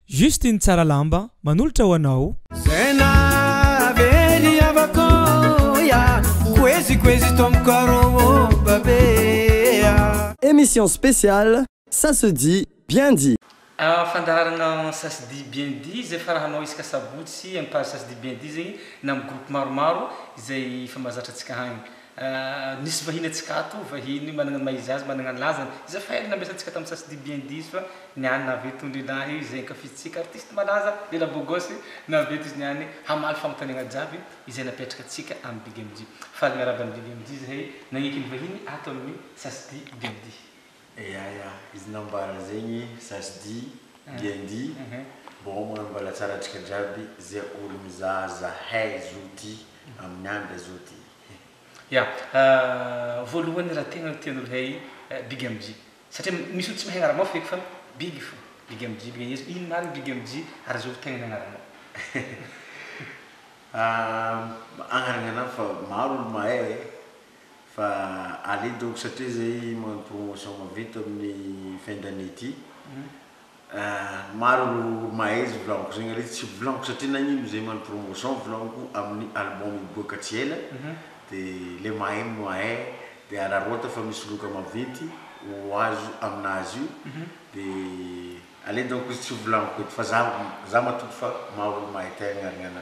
Juste iny tsara lamba manolotra ho anao. Zay nahavery havako ya Koezy koezy ton coro babe ya. Emission spéciale ça se dit bien dit. Ahh fandaharana ça se dit bien dit zay fara hanao isaka sabotsy amin page ça se dit bien dit zegny na am groupe maromaro izay efa mazatra atsika hagny Ahh nisy vahiny antsika ato, vahiny managna ny maha izy azy, managna ny lazany, izay file nambesantsika tamin'ny sasy dia bien dit fa ny any nahavy itony lehilahy izay ankafizintsika artiste malaza lehilahy beau gosse nahavy eto izy ny any hamaly fanontaniagna jiaby izay napetraka antsika amin'ny BigMD. Faly miarahaba an'i BigMD zahay nagneky ny vahiny ato amin'ny sasy dia bien dit. Ya ya izy nambara zegny sasdy ngendy bon magnano mbalatsara atsika jiaby ze olo mizaha zahay zo ty aminy andra zo ty he. Ya voalohany raha tegna ny tian'olo hay big MJ satria misy olo tsy mahay agnaramao feky fa big fô big MJ big aiza ino marigny big MJ ary azovy tegna ny agnaranao. Agnarana anahy fa maro olo mahay e. Fa allez donc satria izay magnano promotion maventy amin'ny fin d'année ity ah, maro ireo mahay izy volagniko zegny ary tsy volagniko satria nagnino izay magnano promotion volagniko amin'ny album hiboaka tsy ela de le mahay no mahay de araraota fa misy loka maventy ho azo aminazy io de Aleo donc izy tsy ho volaniko eto fa za za matoky fa maha olo mahay tay agnarignana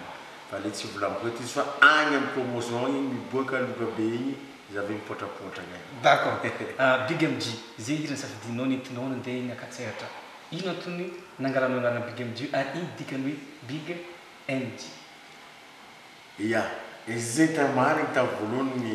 fa aleo tsy ho volaniko eto izy fa agny am promotion igny miboaka loka be igny za ve mipotrapotra agny. D'accord. Ah Big MJ, ze hira nisafidianao nentinao nandeha eny Ankatsehatra. Ino antony nangalanao anarana Big MJ ary ino dikany hoe Big MJ? Ya, izy zay tena marigny tam voalohany ny.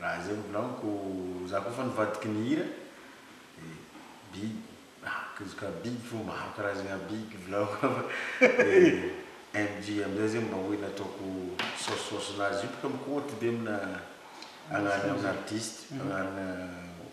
Raha izay mbola amiko za koa efa nivadiky nihira de big ah kizz ka big fo maro karazagna big volako de MJ amizay zegny mba hoe nataoko saosisaosinazy io bôka mikoty be amina agnarana artiste agnarana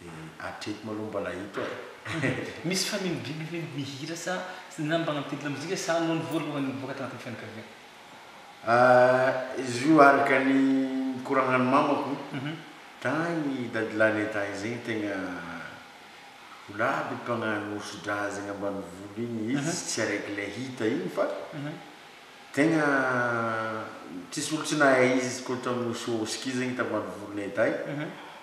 Dia hatreto malou mbola hita e. Misy fanindriana ve ny mihira sa ny nambaran'ny titre mozika sa noho ny voalohany nivoaka tanatin'ny fianakaviana? Ahh izy io araka ny nikoragnan'ny mamako tagny dadilahy nentagny zegny tegna ho laby mpagnano hosodra zegny ambanivolo igny izy tsy araiky le hita igny fa tegna tsisy olo tsy nahay izy koa tamin'ny hosihosika izy zegny tambanivolo nentay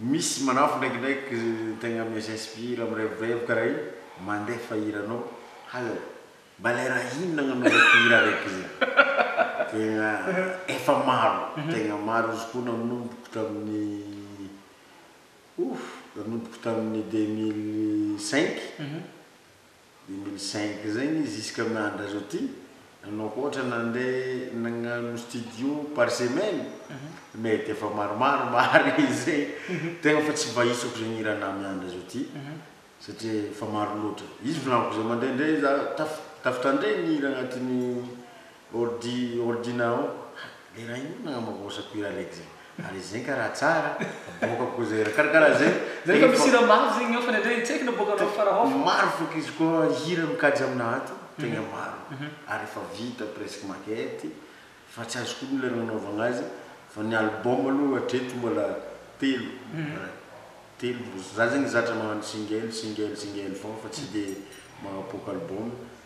Misy manao fa ndraikindraiky tegna mes inspire mirevirevo karaha io mandefa hiranao hay mbale raha inona nagnanovako hira raiky zay tegna efa maro tegna maro izy koa nagnomboko tamin'ny ouff nagnomboko tamin'ny deux mille cinq. Deux mille cinq zay ny izy jusqu'à andrazao ty nanao hoatra nande nagnano studio par semaine mety efa maromaro marigny zay tegna fa tsy mba isako zegny hira anah miandry azao ty satria efa maro loatra izy volagniko zay mandraindray za taf tafitandregny hira agnatin'ny Ordi ordi nao ha le raha io nagnamba vosa ko ira lek zay ary izy zegny ka raha tsara aboaka ko zay ra kara kara zay Zay efa misy hira maro zegny ao fa le ndray hitsaiky na boaka anao fara ao fa. Maro fôk izy ko hira mikajy amina ato tegna maro ary efa vita presque maquette fa tsy azoko ogno le nagnanaovagna azy fa ny album aloha hatreto mbola telo ra telo za zegny zatra magnano single single single fôgna fa tsy de magnapoaka album.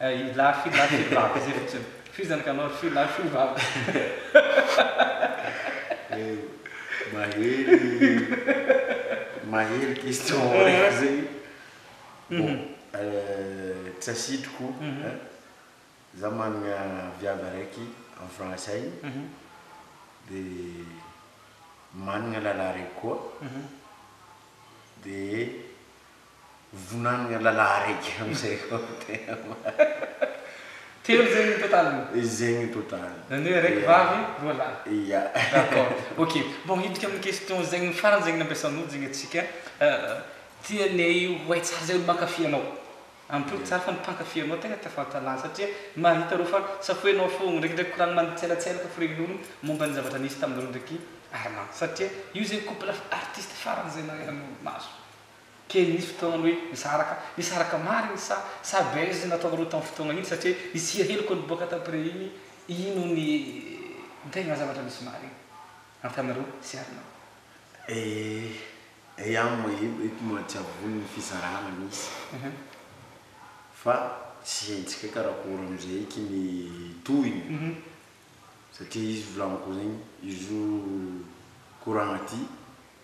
Ry lahy fy lahy fy vavy izay fotsiny. Fy izany ka anao ry fy lahy fy vavy. Mahery question aoriako zay. Bon tsy asitriko za managna viavy araiky any France any de managna lalahy araiky koa de. Vonanagna lalahy araiky amizay koa ny tegna marigny. Telo zegny ny total-ny? Zegny ny total-ny. Zany hoe araiky vavy, roa lahy. Ya. D'accord. Ok. Bon, hidika amin'ny question zegny farany zegny nampiasan'olo zegny atsika. Tianay ho hay tsara zay olo mankafy anao. Ampitovy tsara fa ny mpankafy anao tegna te fahalalana satria mahita reo fa safoinao fôgna, ndrekindreky koragny manitselantselaka ny firenen'olo momba ny zavatra nisy taminareo ndreky Armand satria io zegny couple artiste farany zay nahaizan'olo maso. Kely nisy fotoana hoe nisaraka, nisaraka marina sa sa buzz nataonareo tamin'ny fotoana iny satria isia hely ko niboaka t'après iny ino ny tegna zavatra nisy marigny antanareo sy Arnaud? Eh eh an mahebo eto moa tsy avony ny fizarana misy fa tsy haintsika karakory amizay eky ny tohiny satria izy volagniko zegny izy io koragna ty.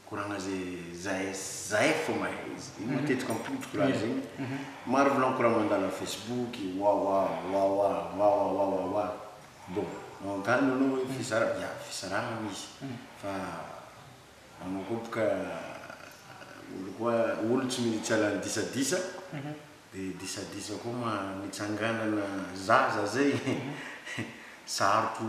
Koragna ze zay zay fôgna e izy io matetiky ampototro kora zegny maro volagny kora mandala facebook wawa wawa wawa wawa wa bon magnontarigny anao hoe fizara ya fisarahagna misy fa anao koa boka olo koa olo tsy mety hiala ny disadisa de disadisa koa ma mitsanganana zaza zay sarotro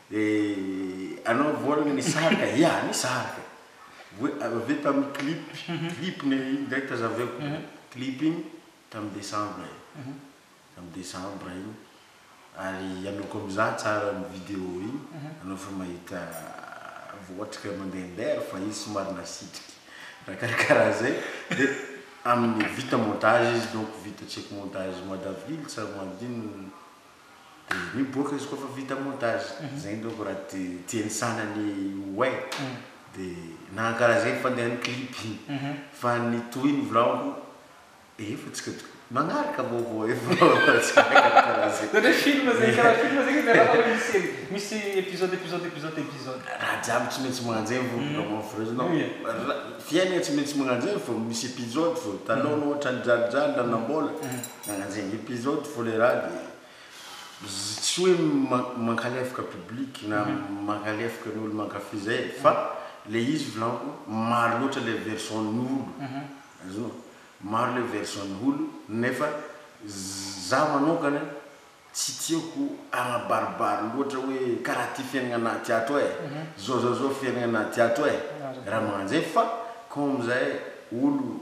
Eh anao voalany nisarika ya nisarika voa avy avy tamin'ny clip clip ny iny ndray tazaveko clip iny tamin'ny decembre e tamin'ny decembre iny ary ianao koa mizaha tsara ny video iny anao efa mahita voatrika mandehandeha ary fa izy somary nasitrika raha karakaraha zay dia amin'ny vita montage izy donc vita check montage madavily sa madino Dia ny boky izy koa fa vita montage, izay indreo ko raha tiany sanany ho hay, dia na karaha izay ny fandehan'ny clip iny, fa ny toy ny vlog, efa tsika to, magnaraka vaovao eo fa tsy karaha karaha izay. Izany hoe film izay, karaha film izay ka miarahaba hoe misy série, misy episode, episode, episode, episode. Raha jiaby tsy maintsy magnano izay vao tonga maho vrai non, fiainana tsy maintsy magnano izay vao misy episode, vao hitanao anao ohatran'ny dralidraly, lanam-baolana. Nagnanjeny episode folerady e! Izy tsy hoe mankalefoka public na mankalefoka ny olo mankafy zay e! Fa le izy volako maro loatra le version ny olo azonao? Maro le version ny olo nefa za manokana tsy tiako agnabaribary loatra hoe karaha ty fiaignana anaty ato e! Zao zao zao fiaignana anaty ato e! Raha magnanjay fa comme zay olo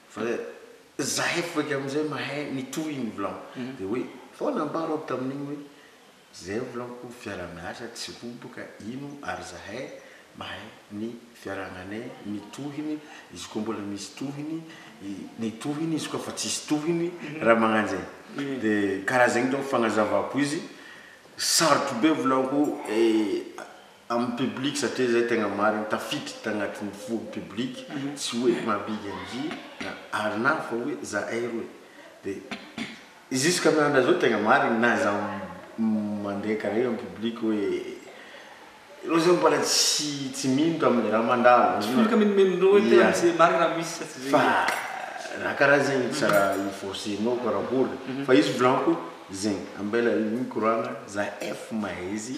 Fa zahay voaika amizay mahay ny tohiny vlam de hoe sao nambarako tamin'igny hoe zay vlamko fiarahamiasa tsy roboka ino ary zahay mahay ny fiarahamanay ny tohiny izy koa mbola misy tohiny ny tohiny izy koa fa tsisy tohiny raha magnano zay de karaha zegny ndray fanazavako izy sarotro be vlamko Amin'ny public satria izay tegna marigny tafiditra tagnatin'ny fo public tsy hoe mampika ndry na arnav fa hoe zahay roe de jusqu'à miandra zao tegna marigny na za mandeha kare am public hoe reo zao mbola tsy tsy mino tamle raha mandalo Tsy mino ka minomenondreo hoe tegna misy le marigny raha misy sa tsy zay fa raha karaha zegny tsy raha i forcenao karakory fa izy volako zegny ambela igny mikoragna zahay fo mahay izy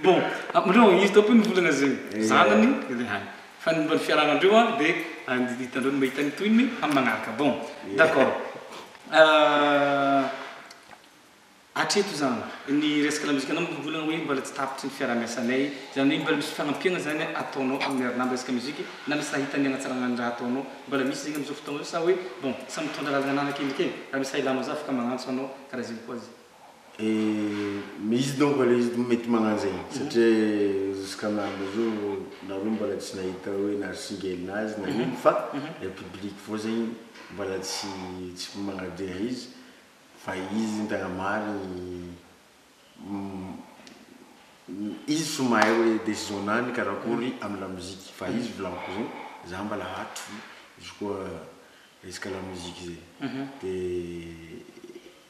Bon, amindreo angivy daholo ny volana zay zanany le any fa ny momba ny fiarahana andreo an de hitandreo ny mahita ny tohiny amin'ny manaraka bon d'accord hatreto zany ny resaka lamozikanao moa mbola hoe mbola tsy tapitry ny fiarahamiasanay zany hoe mbola misy fanampiana zany ataonao amin'ny ry namana resaka miozika na misy raha hitany hanatsarana ny raha ataonao mbola misy zegny amizao fotoagna zao sa hoe bon samy mitondra lalagna ananany akendriky e raha misy raha ilanao za afaka magnantso anao karaha zegny koa zany. Eh, izy donc aloha izy mety magnano zegny satria jusqu'amin'andro zao nareo mbola tsy nahita hoe narisingely nazy na ino fa le public vao zegny mbola tsy tsy magnadeha izy fa izy zegny tegna marigny izy fo mahay hoe décision nany karakory amy la musique fa izy volako zegny za mbola hatry fo izy koa resaka la musique zegny de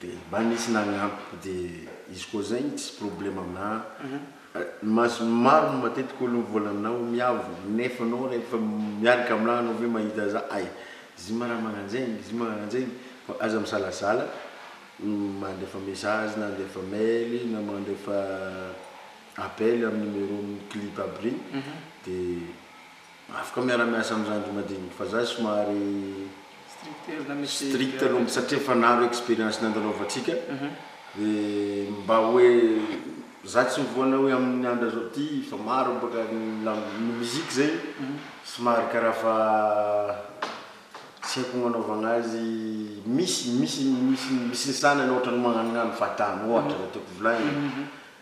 De mba nisy nagnampy de izy koa zay igny tsisy problème amina mas maro ny matetiky olo mivola amina hoe miavo nefa anao refa miaraka amina anao ve mahita za ay zy ma raha magnanjegny zy ma magnanjegny fa aza misalasala mandefa message na andefa mail na mandefa appel amy numéro clip aby regny de. Afaka miara miasa am zandry madiniky fa za somary strict aloha mitsy satria efa naro experience nandalovantsika de mba hoe za tsy mivoana hoe aminy andra zao ty fa maro baka ny musique zay somary karaha fa tsy haiko gnanaovagna azy misy misy misy misy ny sanany ohatrany magnanognano fahatany ohatra zay tiako volagny.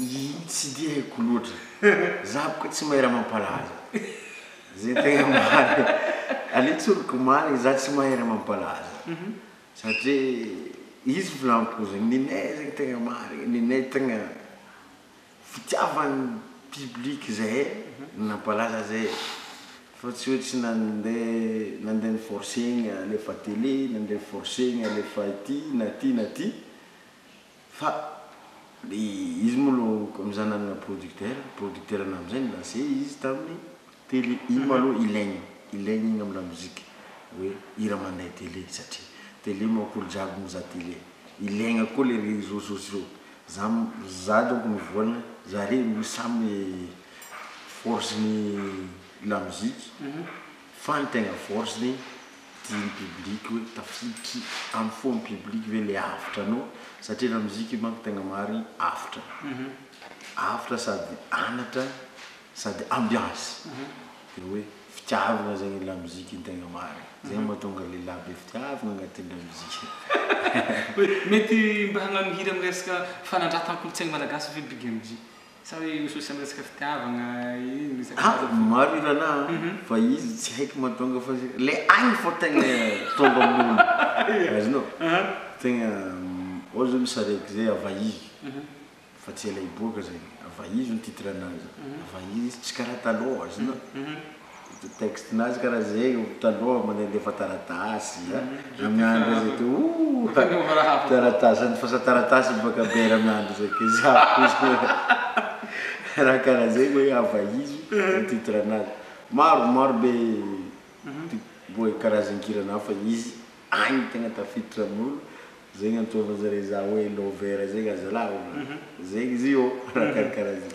Ii, Tsy dia haiko loatra. Za boka tsy mahay raha mampalaza. Zay tegna marigny. Aleo tsoriko marigny za tsy mahay raha mampalaza. Satria izy volampo zegny, ninay zegny tegna marigny, ninay tegna fitiavan'ny public zahay no nampalaza zay e. Fa tsy hoe tsy nandeha nandeha ni-forcer-gna alefa télé, nandeha ni-forcer-gna alefa aty na aty na aty. Fa le izy moa lo mizaha nanana producteur, producteur na amizay nilancé izy taminy télé iny ma lo ilaigny ilaigny igny am lamoziky oe hira mandeha télé satria télé manko olo jiaby mizaha télé ilaigna koa le réseau sociaux za za donko mivoagna zare lo samy force ny lamoziky Fa ny tegna force zany dia ny public hoe tafiditry am fo am public ve le avotra nao satria la musique io manko tegna marigny avotra avotra sady anatra sady ambiance de hoe fitiavagna zegny la musique tegna marigny zegny mahatonga lehilahy be fitiavagna agnatin la musique. Mety mba hagnano hira miresaka fanandratan-kolontsaigny malagasy ve Big MJ? Sa hoe io social resaka fitiavagna io no resaka Aa azafady. maro i Rana a fa izy tsy haiko mahatonga fa le ainy fô tegna tonga amin'olo azonao tegna ôhatra zao misy saraiky zay avaizo fa tsy ela hiboaka zay avaizo ny titre-nazy avaizo izy tsy karaha talôha azonao. Ity texte nazy karaha ze taloha mandehandefa taratasy a ramiandry zay to ooh taratasy andefasan taratasy baka be ramiandry zay ke za raha karaha zay hoe hava izy ny titre nazy maro maro be boe karazan-kira naho fa izy agny tegna tafiditra amin'olo zay gn'antsovan zare za hoe lover zegny azalahy zegny izy io raha karakaraha zay.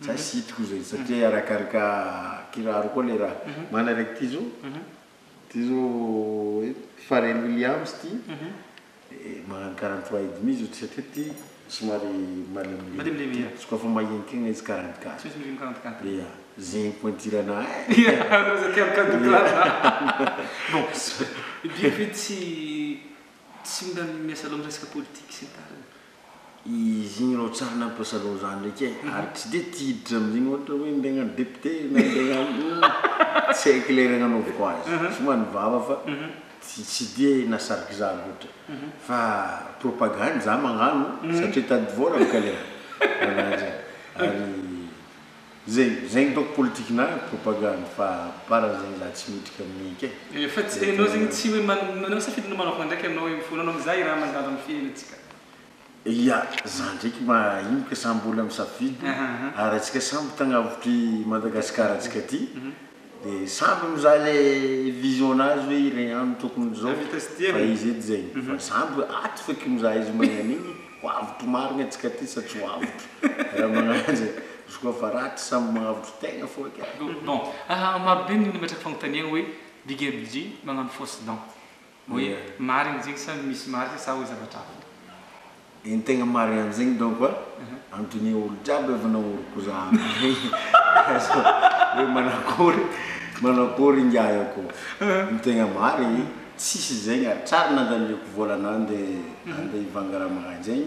Za tsy hitako izay satria arakaraka kiraro koa le raha. Mana raiky ty zo, ty zo Pharrel Williams ty, magnano quarante trois et demi zo satria ty somary malemilemy ty, tsy kôfa mahinika igny izy quarante quatre. Tsy maintsy mividy quarante quatre. Ia, zegny pointirana ahy. Ia, anao zany tia quarante quatre loatra. Bon, bien que tsy tsy mila miasa loha am resaka politique sy ny tariny. Izy igny rô tsara nampiray salon zany ndreky e, ary tsy de tia hiditra amzigny ohatra hoe ndeha agnano depite na ndeha agnano tsy haiko le raha nanovako azy, somary vava fa tsy tsy de nasariky za loatra fa propagande za magnano satria hitady vôla bôka le raha, raha zay ary. Zay zay ny ataoko politiquena ary propagande fa par zay za tsy mihitrika mic e. Eh fa tsy enao zegny tsy hoe manao safidy na manao fandraika enao io fona anao mizaha i raha mandalo am fiainantsika. Ia za ndraiky ma ino ka samby olona misafidy ary atsika samby tagnavotry Madagascar atsika ty De sambo mizaha le vision nazy hoe iregny agny no tokony izao fa izy edy zegny fa sambo hoe ato feky mizaha izy magnagno igny ho avotro marigny antsika aty sa tsy ho avotro raha magnagno zay izy koa fa ratsy sambo magnavotro tegna fô eky a. Bon, marobe ny olona mipetraka fagnontaniagna hoe big MJ magnano fausse dent. Hoe marigny zegny sa misy marika sa hoe zavatra hafa? Ny tegna marigny an'zegny donc a, anontonia olo jiaby efa nagnoriko zany hoe manakory manakory ingahy akô? Ny tegna marigny tsisy zegny, hatrary nandaniako vôla nande ande hivanga raha magnanjegny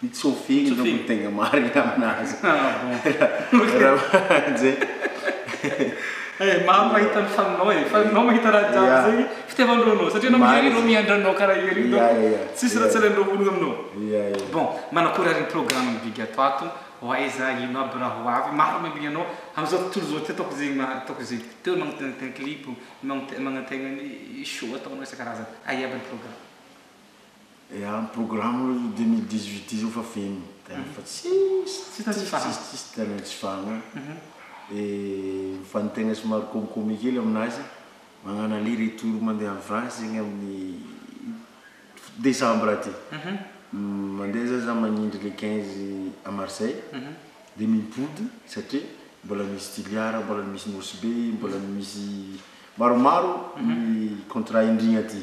Ny tsofi no tokony tegna marigny aminazy. Ah bon. Eh maro mahita ny faninao e, fa anao mahita raha jiaby zegny fitiavandreo anao satria anao miha anao miandry anao karaha ery donc tsisy raha tsy alaindreo vola aminao. Bon, manakory ary ny programme ny big ato ato, ho aiza, ino aby raha ho avy, maro miambigny anao amzao tontolo zao ty ataoko zegny ma ataoko zegny, teo anao magnatena tegna clip, magnategna ny show ataonao isan-karazany, aia aby ny programme. Dia amin'ny programme io deux mille dix huit io izao efa feno terrain fa tsisy, Tsy tokony hifahana. tsisy, tsisy terrain tsy fahana. Dia ny fanin-tegna somary kômikômy kely aminazy, mañano aller retour mandeha any France zegny amin'ny desambra aty. Mandeha zany za magnindry le quinze à Marseille, dia mipody satria mbola misy Toliara, mbola misy Nosy Be, mbola misy maromaro ny contrat indrigna aty.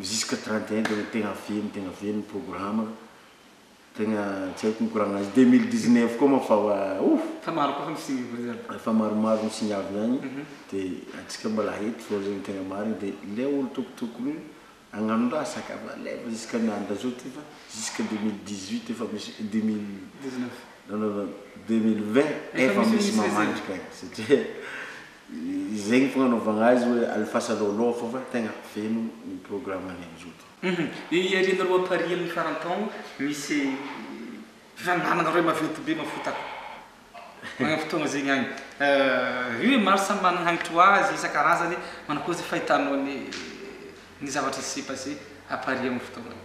jusque trente et un dia tegna velogno tegna velogno programa tegna tsy haiko mikoragnana azy deux mille dix neuf koa moa fa wa ouh Fa maro koa ny signes voa zany. Efa maromaro ny signe avy agny de antsika mbola eto zao zegny tegna marigny de le olo tokotokony agnano raha sac à balève jusque ny andro zao ty fa jusque deux mille dix huit efa misy deux mille Dix neuf. non non non deux mille vingt Efa efa misy misy misy le zay. mamandrika satria Izay no fagnanaovagna azy hoe alefasanao aloha fô fa tegna feno ny programme ny amin'izao ty. Io iarianareo appareil amin'ny faran-taogno misy fifaninanagna roe maventy be mafotaka agny amin'ny fotoagna zegny agny. Io e maro samy managna hagnitry ho azy isan-karazany manakory ze fahitanao ny ny zavatra s'est passé appareil amin'ny fotoagna io.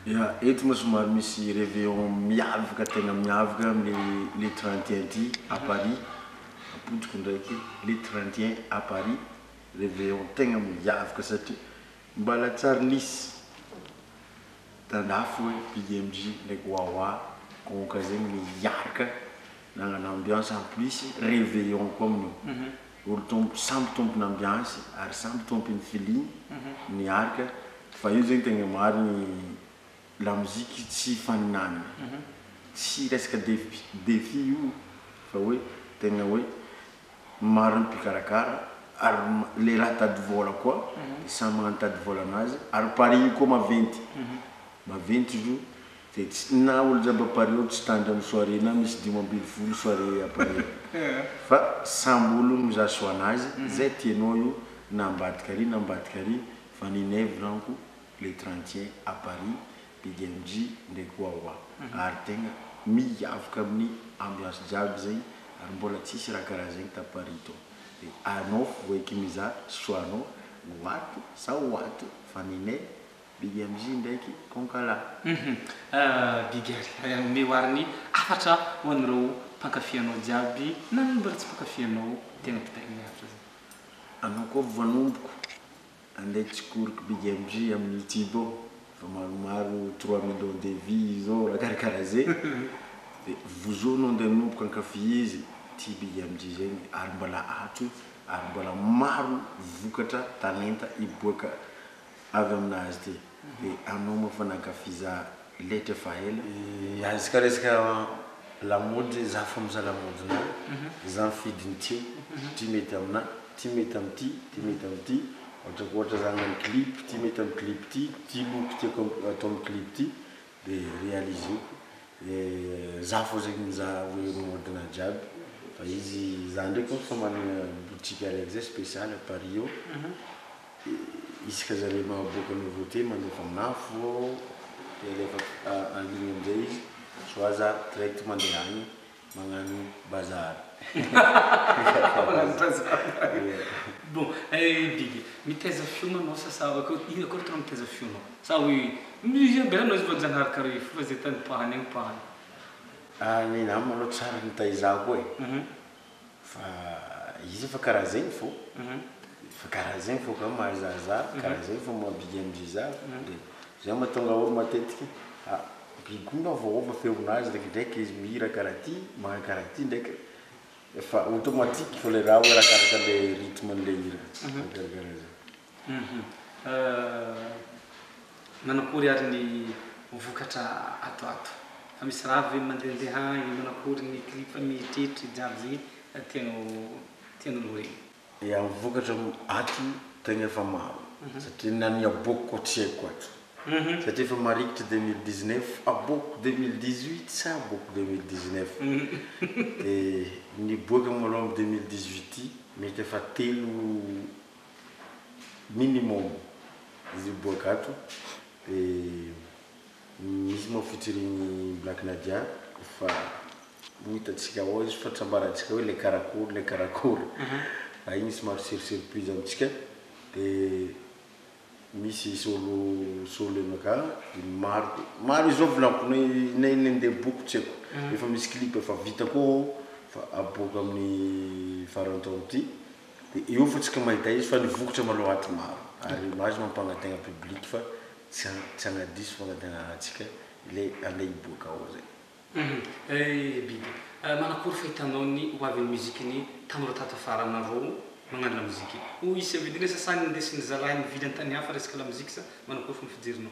Ya, eto moa somary misy reveillon miavaka tena miavaka amin'ny le trente et un ty à Paris, ampodiko indraiky le trente et un à Paris reveillon tegna miavaka satria mba latsary nisy tandafy hoe BMJ ndraiky Wawa Konka zegny niaraka nagnano ambiance en plus reveillon koa amin'io. Olon-tompo samby tompon'amby azy ary samby tompiny filiany ny arika fa io zegny tegna marigny lamoziky tsy ifaninanagna tsy resaka defi défi io fa hoe tegna hoe maro ny mpikarakara ary le raha tady vôla koa de samy magnano tady vôla anazy ary pari-ny koa maventy maventy izy io Dia tsy na olona mpamparea tsy tandry amin'ny soirée na misy dimy ambin'ny folo soirée appareil fa samby olona mizaha soin azy zay tianao io na ambadika ary na ambadika ary fa ny Inevra amiko le trentiens à Paris Big MJ ndraiky Wawa ary tegna miavaka amin'ny ambiance jiaby zegny ary mbola tsisy raha karaha zegny ta Paris to de anao fo eky mizaha soin anao ho ato sa ho ato fa ny Inevra Big MJ ndraiky Konkala. Hum Big ary omeo ary ny hafatra ho an'ireo mpankafy anao jiaby na ny mbola tsy mpankafy anao tena kitaina ny hafatra zany. Anao koa voanomboko andeha tsikoriky Big MJ amin'ny youtube ao efa maromaro trois millions de vues zao raha karakara zay de vozo anao andeha anomboka ankafy izy ity Big MJ zegny ary mbola ato ary mbola maro vokatra talenta hiboaka avy aminazy ty de anao moa fa nankafy za letra efa ela. Iantsika resaka lamaody za fo miza lamaody na za mifidy ny tiako satria mety amina ty mety am ty ty mety am ty ohatrako ohatra za agnano clip ty mety am clip ty ty loko tiako atao am clip ty de realizeko de za fo zegny miza hoe mody na jiaby fa izy za ndraiky fa managna boutique araiky zay special à Paris eo. Isaka zare mahaboaka nouveauté mandefa amina fô de alefa en ligne amizay izy soit za direct mandeha agny magnano bazar. Magnano bazar bon eh biby mitaiza fiona anao sa sa akô ino akô tena mitaiza fiona sa hoe musicien be anao izy vao janahary kara io fa ze tany pahany agny pahany. Ah ny nama aloha tsary nitaiza koa e. Fa izy fa karaha zegny fô, fa karaha zegny fô ka mahazahazaha, karaha zegny fô maha bigy amin'izay za, de zay mahatonga olo matetiky a bigy koa nga voaova feonazy ndrekindraiky izy mihira karaha ty, magnano karaha ty ndreky, efa automatique fô le raha hoe arakaraka le rythme an'le hira, karaha zay. Manakory ary ny vokatra ato ato? Fa misy raha avy ve mandendeha any? Manakory ny clip mieritreritra jiaby zay tianao tianao lorena? Ya, ny vokatra ato tegna efa maro satria na ny aboako koa tsy haiko ato satria efa marikitry deux mille dix neuf, aboako deux mille dix huit sa aboako deux mille dix neuf? de niboaka malom deux mille dix huit ty mety efa telo minimum izy boaka ato de misy moa featuring Black Nadia fa ho hitantsika ao izy fa tsy ambarantsika hoe le karakory le karakory fa igny somary sur surprise amintsika de misy solo solo enaka de maro maro izao volanko na na iny ndeha boko tsy haiko efa misy clip efa vita koa ao fa aboaka amin'ny faran'ny taona ty Dia eo fa tsy ka mahita izy fa nivokotra malao aty maro ary image mampangatahina public fa tsy tsy hanadiso fangatanana antsika ilay andeha hiboaka ao zay. Ry biby, manakory fahitanao ny ho avin'ny musique ny tanora tato afarana rou magnano la musique? Hoy i Sevelina sasany nindesy ny zalahy nivily an-tany hafa resaka la musique sa manakory fomba fijerinao?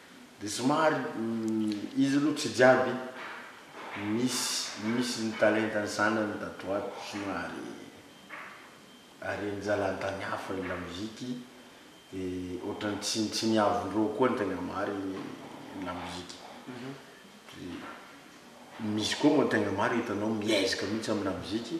Dia somary izy aloha tsy jiaby misy misy ny talenta ny zanany tato ato somary haren'jalantany hafa ny lamoziky dia ohatrany tsy tsy niavondreo koa ny tegna marigny ny lamoziky misy koa moa tegna marigny hitanao miezaka mihitsy amy lamoziky.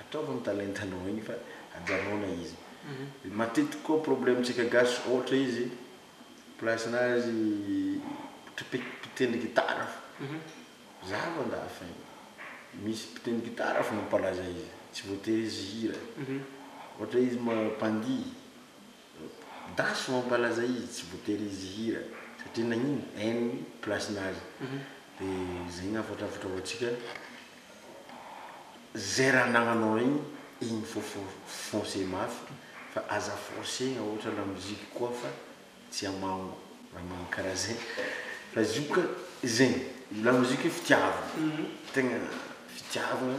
Ataovy ny talentanao iny fa ajanona izy. Matetiky koa problème tsika gasy ohatra izy place nazy mpitendry gitara fo. Za avy andafy any misy mpitendry gitara fo mampalaza izy tsy voatery izy hihira. Ohatra izy mpandihy Daso mampalaza izy tsy voatery izy hihira satria nagnino en place nazy de zay ny hafatra hafatra ho antsika zay raha anagnanao regny igny fô fô foncer mafy fa aza forcegna ôhatra la musique koa fa tsy amango raha magnano karaha zay fa izy io ka zegny la musique fitiavagna tegna fitiavagna.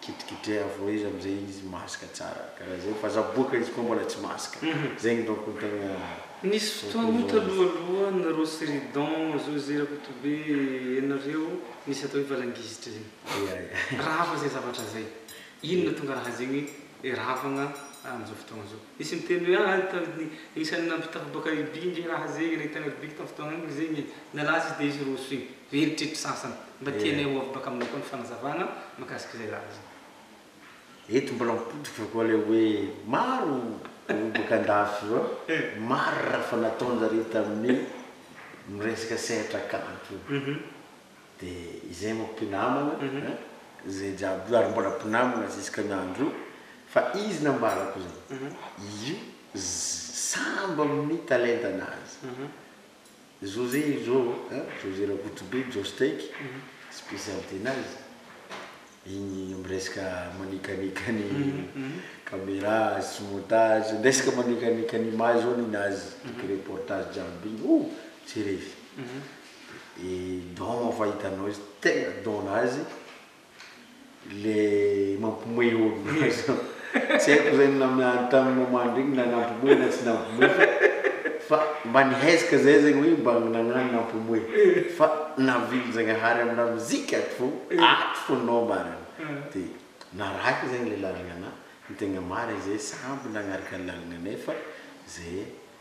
Kitrikitreha avao izy amzay izy mask tsara karaha zay fa za boka izy koa mbola tsy mask zegny donc ny tegna Nisy fotoagna talohaloha nareo sy Ridon zo zé Rakotobe ianareo nisy atao hoe valangizitra zegny. Ya ya. Rava zay zavatra zay. Inona tonga raha zegny hoe ravagna amzao fotoagna zao. Nisy niteny hoe ah tany isany nampitafabaka i By nge raha zegny e, nahitagna ry By tam fotoagna igny zegny e, nalaza izy de izy roso igny, very tretry sasany, mba tianay ho avy baka aminao koa ny fanazavagna mikasika izay laza zay. Eto mbola mipotroka koa le hoe maro olo baka andafy io an, maro raha efa nataonjareo tamin'ny miresaka sehatra kanto io. Dia izay moa mpinamana eh, izay jiaby io ary mbola mpinamana jusque ny andro io fa izy nambarako izay, io sambo amin'ny talentanazy. José io zao eh, José Rakotobe, Jostech, spécialité-nazy. Igny miresaka manikanika ny camera sy montage, miresaka manikanika ny image zao ninazy toky reportage jiaby igny oh! tsy resy e don moa fa hitanao izy tegna don nazy le mampimoehy olo. Tsy haiko izay ny naminany tamin'ny moment iny na nampomoy na tsy nampomoy fa fa mba nihezaka izay zegny hoe mba nagnano nampomoy fa navily Zagnahary amin'ny lamozika ato fô ato fô nao marigny de narahiko zegny le lalagna anah ny tegna marigny zay samby nagnaraka ny lalagna nefa zay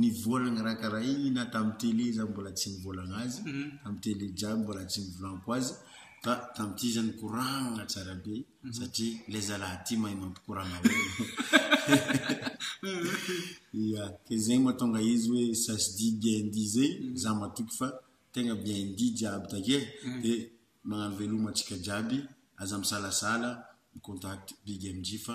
Ny vola nikarakaraina tamin'ny télé izaho mbola tsy nivolagna azy, tamin'ny télé jiaby mbola tsy nivolanko azy, fa tamin'ity izy nikoragna tsara be satria ilay zalahy ity mahay mampikoragna olona. Ya, dia izay mahatonga izy hoe ça se dit bien dit izay, izaho matoky fa tegna bien dit jiaby takeo e, dia magnano veloma antsika jiaby, aza misalasala mi-contact Big MJ fa.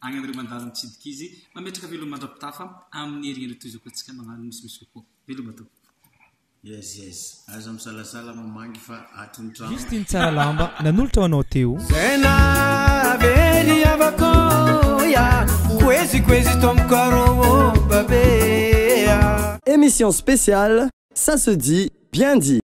Agny amin'ireo mandalo mitsidika izy, mametraka veloma mandra-pitafa amin'ny herihendry toy izao koa antsika magnano misimisy kokoa. Veloma tompoko. Yes yes, aza misalasala mamangy fa ato ny trano. Justin tsara lamba nanolotra ho anao Téo. Zay nahavery havako ya Koezy koezy tompoko arô ô babe ya Emission spéciale, ça se dit, bien dit.